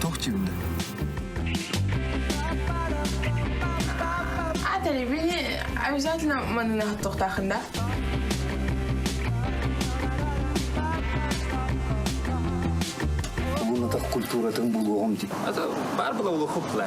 Туох чимде? А телевидение обязательно манна тоқтақында. Угунатах культуратын булуоҕум ти. Это бар было улухупле.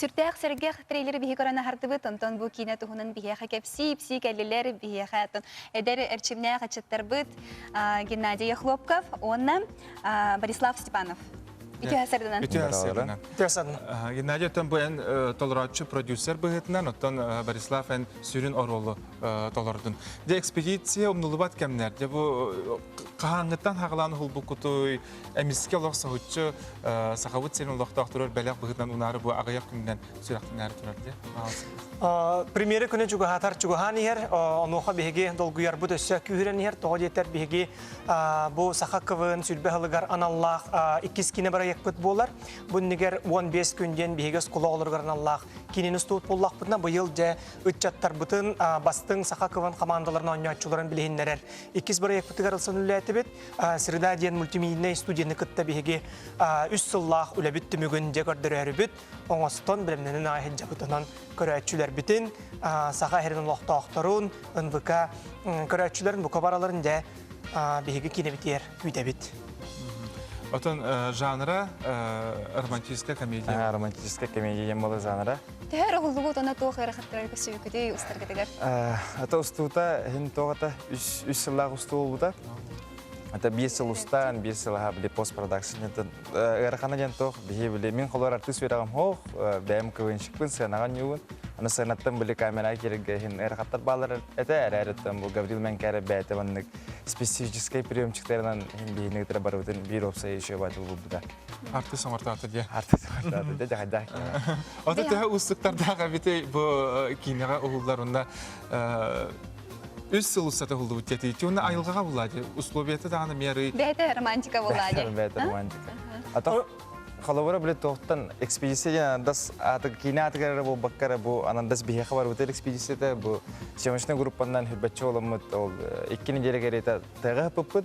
Сүрдээх сэргэх трейлер биһи көрөн аһардыбыт, онтон бу киинэ туһунан биһиэхэ кэпсии, ипсии кэллилэр, биһиэхэ оттон эдэр эрчимнээх аччыттарбыт Геннадий Ехлопков уонна Борислав Степанов. Үтүө сырдынан. Үтүө сырдынан. Үтүө сырдынан. Геннадий оттон бу эн толорооччу продюсер быһыытынан, оттон Борислав эн сүрүн оруолу толордун. Дэ экспедиция умнулубат кэмнэр. Дэ бу хаһааҥҥыттан хагалаан уһулбуккутуй, эмискэ олох соһуччу сахабыт сирин олохтоох турар бэлэх быһыытынан унаары бу аҕыйах күнүнэн сүрэхтинээри турар дэ. Премьера күнү чугаһатар чугаһаан иһэр, онуоха биһиги долгуйарбыт өссө күүһүрэн иһэр, тоҕо диэтэр биһиги Бу саха КВН сүлбэ аһылыгар аналлаах иккис кино бырайыакпыт буолар. Бу иннигэр уон биэс күн диэн биһиги оскулаҕолоругар аналлаах кинини устубут буоллахпытына, быйыл дьэ ыччаттарбытын, бастыҥ саха КВН командаларын оонньооччуларын билиһиннэрэр иккис бырайыакпытыгар ылсан үлэлээтибит. Среда диэн мультимедийнэй студияны кытта биһиги үс сыллаах үлэбит түмүгүн дьэ көрдөрөөрүбүт. оҥостон, бэлэмнэнэн аҕай иһит дьакытынан көрөөччүлэрбитин, саха иһэрин олохтоохторун, НВК көрөөччүлэрин бука бараларын дьэ биһиги киинэбитигэр күүтэбит. Отон жанра романтическая комедия. Романтическая комедия диэн буолар жанра. Төһө эрэ уһуллубут оны туох эрэ хаттарар көсүбүкүтүй устаргытыгар? Ата устуута, иһин тоҕата үс сыллаах устуу буолбута. Это биир сыл устаан, биир сыл аха били постпродакшнытын ыарахана диэн туох биһи били мин холор артыыс үөрэҕим хоох бэйэм кылынчыкпын сыанаҕан ньугун аны сыанаттан били камера кирге иһин ыарахаттар баалар этэ эрэриттэн бу Гаврил Менкере бэйэтэ маннык специфическай приемчиктеринан иһин биһини ытыра барыбытын биир опсай ишебатыл булбута артыыс омартаата диэ артыыс омартаата диэ дагайдах ота төһө устуктардаах эбити бу киинэҕэ уһуллар унна үс сыл устата булдубут кэтиичи уонна айылҕаҕа булаачы условията даҕаны меры бэйэтэ романтика булаачы бэйэтэ романтика ата холобура биле тоқтан экспедиция дас аты киинэ атыгар эрэ буолбакка эрэ бу анандас биһиэхэ барбытыр экспедицията бу съемочный группаннан хүрбэтчи оламмыт ол э, икки неделя кэриэта тыга хаппыппыт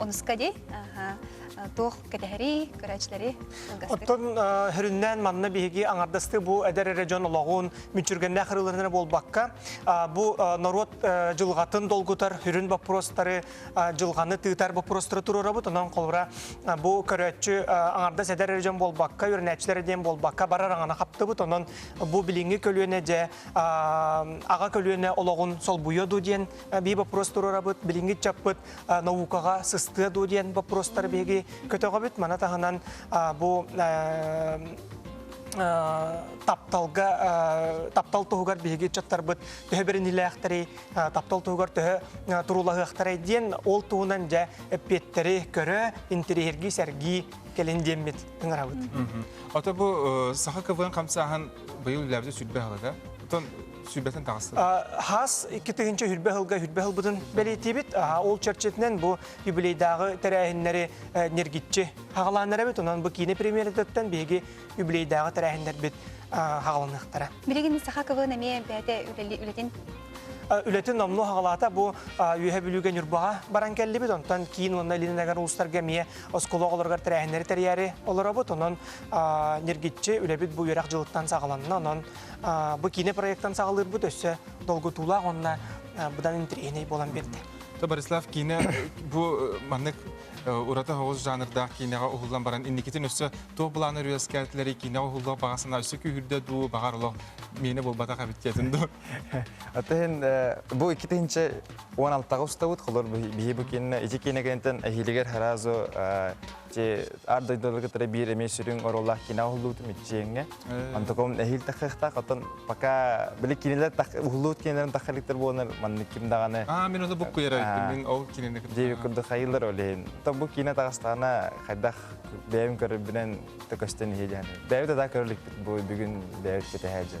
Онуска дии туох кэтэһэрий, көрөөччүлэри Оттон хөрүннээн манна биһиги аҥардастыы бу эдэр эрэ дьон олоҕун мүччүргэннээх ырыаларынан буолбакка, бу норуот дьылҕатын долгутар сүрүн боппуруостары, дьылҕаны тыытар боппуруостары туруорабыт. Онон холобура бу көрөөччү аҥардас эдэр эрэ дьон буолбакка, үөрэнээччилэр диэн буолбакка барар аҥана хаптыбыт. Онон бу билиҥҥи көлүөнэ дьэ аҕа көлүөнэ олоҕун солбуйуо дуу диэн Биир боппуруос туруорабыт, билиҥҥи ыччаппыт наукаҕа сыстыа дуу диэн боппуруостары биһиги көтөҕөбүт. Маны таһынан бу тапталга таптал туһугар биһиги ыччаттарбыт төһө бэринилээхтэрий, таптал туһугар төһө туруулаһыахтарай диэн ол туһунан дьэ эппиэттэри көрө, интэриэһиргии, сэргии кэлин диэммит ыҥырабыт. Ото бу саха КВН хамсааһын быйыл үлэбитэ сүрбэ аһылыга. Оттон Сүбэтин таҕыстыгыт. ХАС икки тыһыынча үрбэ ыһылга үрбэ ыһылбытын бэлиэтиибит. Ол чэрчитинэн бу юбилейдааҕы тэрээһиннэри нэргиччи хаҕалааннар эбит. Онон бу киинэ премьератыттан биһиги юбилейдааҕы тэрээһиннэрбит хаҕаланыахтара. Билигин Сахаковын эмиэ бэйэтэ үлэтин үлэтин номнуо хаҕалаата бу Үөһэ Бүлүүгэ Ньурбаҕа баран кэллибит. Онтон киин уонна Илин Эгээр улуустарга эмиэ оскуола оҕолоругар тэрээһиннэри тэрийээри олоробут. Онон нэргиччи үлэбит бу үөрэх дьылыттан саҕаланна. Онон Бу киинэ проектын саҕалыырбыт өссө долгутуулаах уонна быдан интриһинэй буолан биэрдэ. Борислав киинэ бу маннык ураты оҕус жанрдаах киинэҕэ уһуллан баран инникитин өссө туох былаан өрүөскээтилэрий киинэҕэ уһуллуох баҕа санаа өссө күүһүрдэ дуу баҕар олох миэнэ буолбатах эбит диэтин дуу ate иһин бу икки тыһынча уон алтаҕа устабыт холор биһи бу киинэ ити киинэ кэнтэн эһиилигэр харазо ар дойдулары кытары биир эмиэ сүрүн оруоллаах кино уһуллубут миччиэҥҥэ онтукум эһиил тахыахтаах оттон пока били кинилэр уһуллубут кинилэрин тахалыктар буоланар маннык ким даҕаны аа мин ону буккуйар мин ол кинини диэбит курдук хайыылар олейн то бу кино таҕыстаҕына хайдах бэйэм көрөрбүнэн төкөстөн иһи дьаһаны бэйэбит да көрөлүкпүт бу бүгүн бэйэбит кэтэһэ дьэ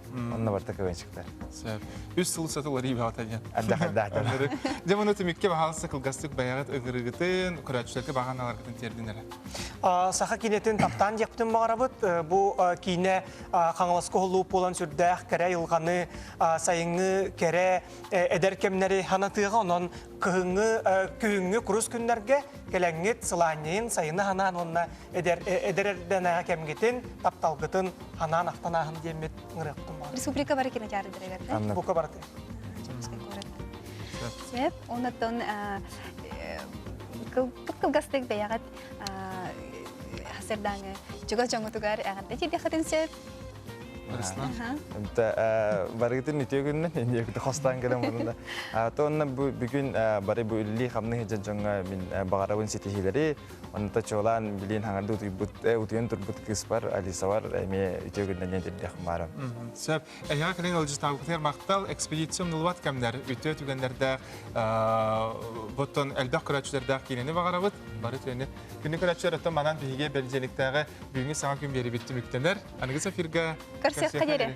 Онно барта кывынчыктар. Сөп. Үс сыл сытыл арий баҕата диэн. Ардах ардаахтар. Дьэ bunu түмүккэ баһаалыста кылгастык байаҕыт ыгырыгытын, көрөөччүлэргэ баһаналаргытын тиэрдин эрэ. Саха киниэтин таптаан диэхпитин баҕарабыт. Бу киинэ Хаҥаласка уһуллубут буолан сүрдээх кэрэ айылҕаны, сайыҥҥы кэрэ эдэр кэмнэри ханатыаҕа. Онон кыһыҥҥы күһүҥҥү курус күннэргэ кэлэҥҥит, сылаанньыйын, сайыны ханаан уонна эдэр эрдэнээҕи кэмгитин, тапталгытын анаан ахтанааһын диэммит ыҥырыахтым. Республика бары кинотеатрдарыгар Бука барыта. Сөп. Оннуттан кылгас кылгастык бэйэҕит хасырдааҥы чугас дьоҥҥутугар эҕэрдэ тиийдэххитин сөп. Руслан. Барыгытын үтүө күннүн, инdiэбити хостаан гынан мунна. Туонна бу бүгүн бары бу үллии хамны хыдьан дьоҥҥо мин баҕарабын ситиһилэри, Онута чуолаан билин хаҥырды утуйбут, утуйан турбут кыыспар Алисабар эмиэ үтүө күннэниэн дирдэх маарым. Сөп. Эһиэҕэ кэлин Алжитабытыгар махтал. Экспедиция умнулубат кэмнэр, үтүө түгэннэрдээх, боттон элбэх көрөөччүлэрдээх киинэни баҕарабыт. Бары төнү. Күнү көрөөччүлэр оттон манан биһиги бэлдьэликтээҕи бүгүҥҥү саҥа күн биэрибит түмүктэнэр. Аныгы эфиргэ... Концертка диэри.